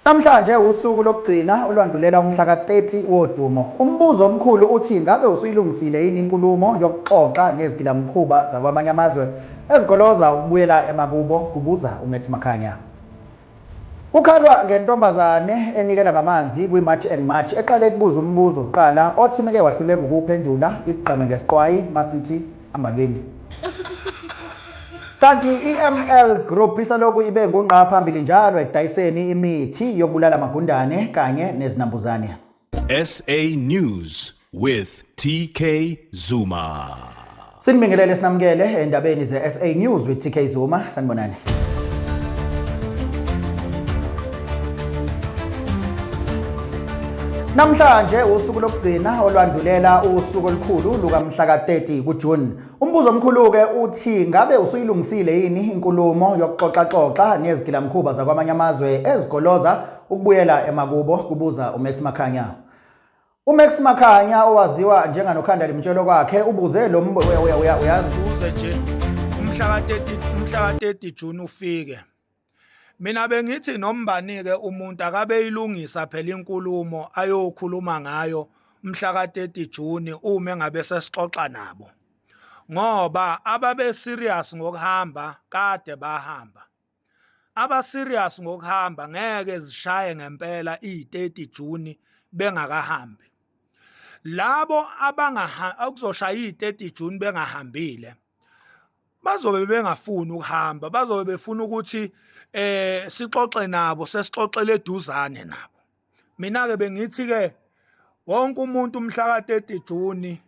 Namhlanje wusuku lokugcina olwandulela umhla ka-30 wodumo. Umbuzo omkhulu uthi ngabe usuyilungisile yini inkulumo yokuxoxa nezigilamkhuba zakwamanye amazwe ezigoloza ukubuyela emakubo, kubuza uMax Makhanya. Kukhalwa ngentombazane enikela ngamanzi kwiMarch and March eqale ikubuza umbuzo kuqala othi meke wahluleka ukuwuphendula ikugqame ngesiqwayi masithi, Hamba kini. Kanti iML Group isalokhu ibe ngungqa phambili njalo ekudayiseni imithi yokubulala amagundane kanye nezinambuzane. SA News with TK Zuma. Sinibingelele sinamukele endabeni ze SA News with TK Zuma. Sanibonani. Namhlanje usuku lokugcina olwandulela usuku olukhulu lukamhla ka-30 kuJune. Umbuzo omkhulu-ke uthi ngabe usuyilungisile yini inkulumo yokuxoxaxoxa nezigilamkhuba zakwamanye amazwe ezigoloza ukubuyela emakubo kubuza uMax Makhanya. UMax Makhanya owaziwa njenganokhanda limtshelo kwakhe ubuze lo uyazi umhla ka-30 June ufike. Mina bengithi nombanike umuntu akabeyilungisa phela inkulumo ayokhuluma ngayo mhla ka-30 Juni uma engabe sesixoxa nabo ngoba ababe serious ngokuhamba kade bahamba aba serious ngokuhamba ngeke zishaye ngempela i-30 Juni bengakahambi labo abangaha okuzoshaya i-30 Juni bengahambile bazobe bengafuni ukuhamba bazobe befuna ukuthi eh sixoxe nabo sesixoxele eduzane nabo mina ke bengithi ke wonke umuntu umhla ka-30 Juni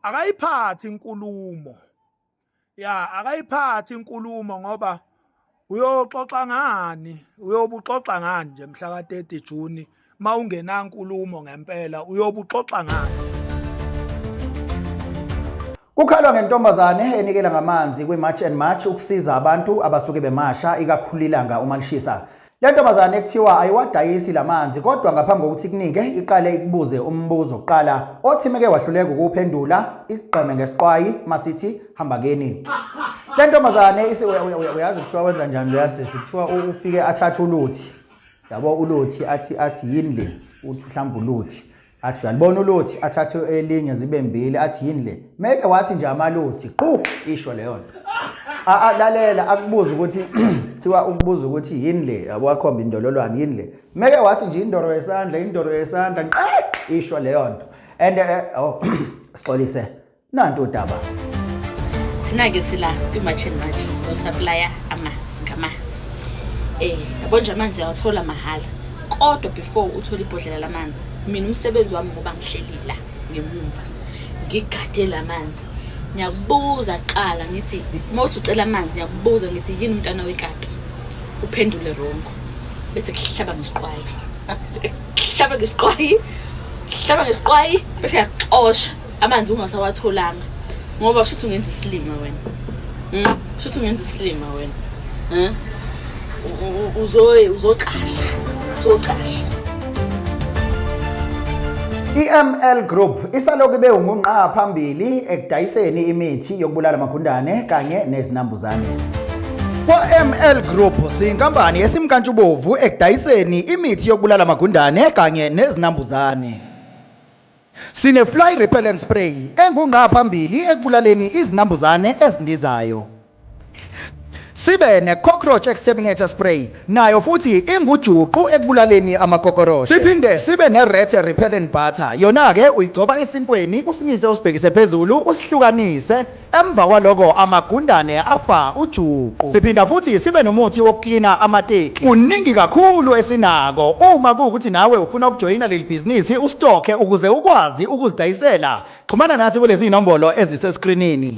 akayiphathi inkulumo ya akayiphathi inkulumo ngoba uyoxoxa ngani uyobuxoxa ngani nje mhla ka-30 June ma ungenankulumo ngempela uyobuxoxa ngani Kukhalwa ngentombazane enikela ngamanzi kwi-March and March ukusiza abantu abasuke bemasha ikakhulu ilanga uma lishisa. Le ntombazane ekuthiwa ayiwadayisi la manzi kodwa ngaphambi kokuthi kunike iqale ikubuze umbuzo kuqala othi meke wahluleka ukuwuphendula ikugqeme ngesiqwayi masithi hamba kini le ntombazane uyazi kuthiwa wenza njani loya sisi kuthiwa ufike athathe uluthi yabo uluthi athi athi yini le uthi uhlamba uluthi Athi uyalibona uLothi athathe elinye zibe mbili athi yini le. Meke wathi nje amaLothi qhu isho leyo nto. A- a- Lalela akubuza ukuthi kuthiwa ukubuza ukuthi yini le yabo wakhomba indololwane yini le. Meke wathi nje indoro yesandla indoro yesandla qe isho leyo nto. And eh, oh sixolise nanti odaba thina-ke sila kwi-march and march sizosaplaya amanzi ngamanzi um yabo nje amanzi awathola mahhala kodwa before uthole ibhodlela lamanzi mina umsebenzi wami ngoba ngihleli la ngemumva ngigade la manzi ngiyakubuza kuqala ngithi uma uthi ucela amanzi ngiyakubuza ngithi yini umntana wekati uphendule rongo bese kuhlaba ngesiqwayi kuhlaba ngesiqwayi kuhlaba ngesiqwayi bese yaxosha amanzi ungasawatholanga ngoba kusho ukuthi ungenza isilima wena hmm? kusho ukuthi ungenza isilima wena hmm? uzoqasha uzoqasha I-ML Group isalokhu ibe umunqa phambili ekudayiseni imithi yokubulala amagundane kanye nezinambuzane. Kwa-ML Group siyinkampani esimkantshubovu ekudayiseni imithi yokubulala amagundane kanye nezinambuzane. Sine-fly repellent spray engungqa phambili ekubulaleni izinambuzane ezindizayo. Sibe ne-cockroach exterminator spray nayo futhi ingujuqu ekubulaleni amakokoroshe. Siphinde sibe ne-rat repellent butter, yona-ke uyigcoba esinkweni usimise usibhekise phezulu usihlukanise. Emva kwaloko amagundane afa ujuqu. Siphinda futhi sibe nomuthi wokuklina amateki. Kuningi kakhulu esinako. Uma kuwukuthi nawe ufuna ukujoyina leli bhizinisi usitokhe ukuze ukwazi ukuzidayisela, xhumana nathi kulezi zinombolo ezisesikrinini.